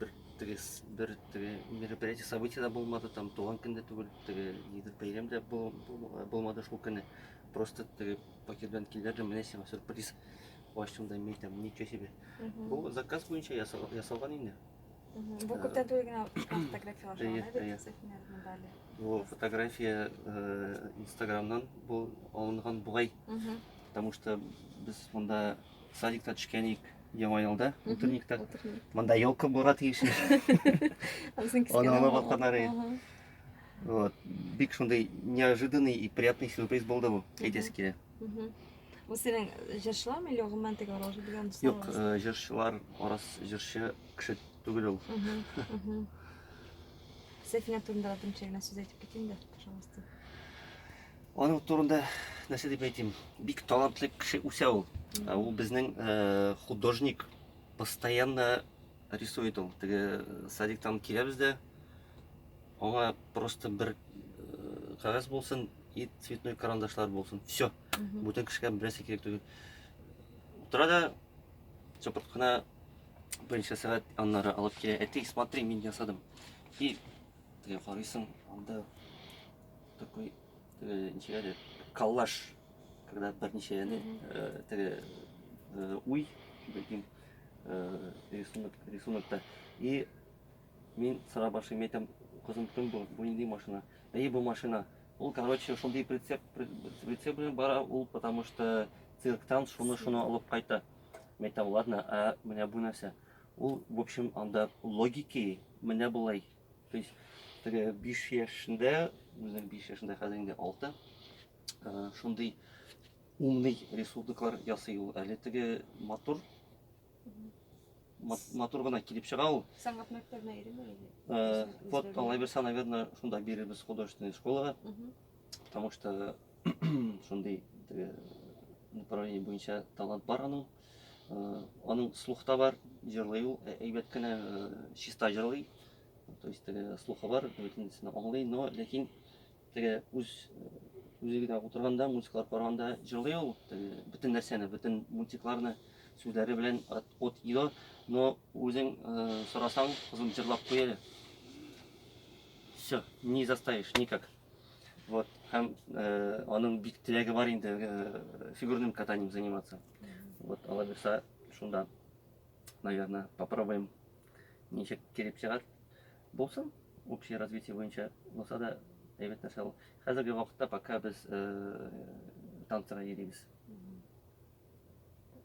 Бер теге бер теге мероприятие событие да булмады, там туган көн дә түгел, теге нидер бәйрәм дә бу- бу- булмады шул көнне. Просто теге пакет белән килдерде, менә сиңа сюрприз. Ачтым да мин там ничего себе. Мгм. Бу заказ буенча ясал- ясалган инде. Мгм. Бу күптән түгел генә фотографиялар Әйе, шуңа да әйе. бит Сәфинә монда әле. Бу фотография э, инстаграмнан бу алынган бугай, Мгм. потому что без монда Садикта төшкәник яңа елда, утренникта. Монда елка булырга тиеш. Аны ала баканары. Вот. Бик шундый неожиданный и приятный сюрприз булды бу. Әйтәсе килә. Бу синең җырчылармы или гомумән теге аралашу белән дуслар? Юк, э, җырчылар арас җырчы кеше түгел ул. Сәфинә турында да төмчәгенә сүз әйтеп китим дә, пожалуйста. Аның турында нәрсә дип әйтим, бик талантлы кеше үсә ул. Ә Ул безнең э, художник постоянно рисует ул. Теге э, садиктан киләбез дә аңа просто бер э, кагаз булсын и цветной карандашлар булсын. Все. Бүтән кешегә берсе кирәк түгел. Утыра да чопырт кына берничә сәгать аннары алып килә. Әти, смотри, мин ясадым. И теге карыйсың, анда Такой, теге, ничек әле, коллаж, когда берничә, яни, э, теге, э, уй, бәлкем, э, рисунок, рисунокта. И мин сыра башлыйм, әйтәм, кызым, кем бу, бу нинди машина? Әйе, бу машина. Ул, короче, шундый прицеп, при- прицеп белән бара, ул, потому что цирктан шуны-шуны алып кайта. Мин әйтәм, ладно, а менә бу нәрсә? Ул, в общем, анда логики менә болай. То есть, теге 5 яшендә, үзенең 5 яшендә хәзер инде 6, э, шундый умный рисунклар ясый ул. Әле теге матур матур гына килеп чыга ул. Сәнгать мәктәбенә йөрими әле. Э, вот, алай берсә, наверное, шунда бирербез художественная школага. Потому что шундый направление буенча талант бар аның. Аның слух та бар, җырлый ул, әйбәт кенә чиста җырлый. То есть теге слухы бар, бөтенесен аңлый, но ләкин теге үз үзе генә утырганда, мультиклар караганда җырлый ул, теге бөтен нәрсәне, бөтен мультикларны сүзләре белән от и до, но үзең сорасаң, кызым җырлап куй әле. Все, не заставишь никак. Вот. Һәм э, аның бик теләге бар инде э, фигурным катанием заниматься. Вот, алла бирса, шунда, наверное, попробуем ничек килеп чыгар. Булсын, общее развитие буенча булса да әйбәт нәрсә ул. Хәзерге вакытта пока без э, танцыга йөрибез.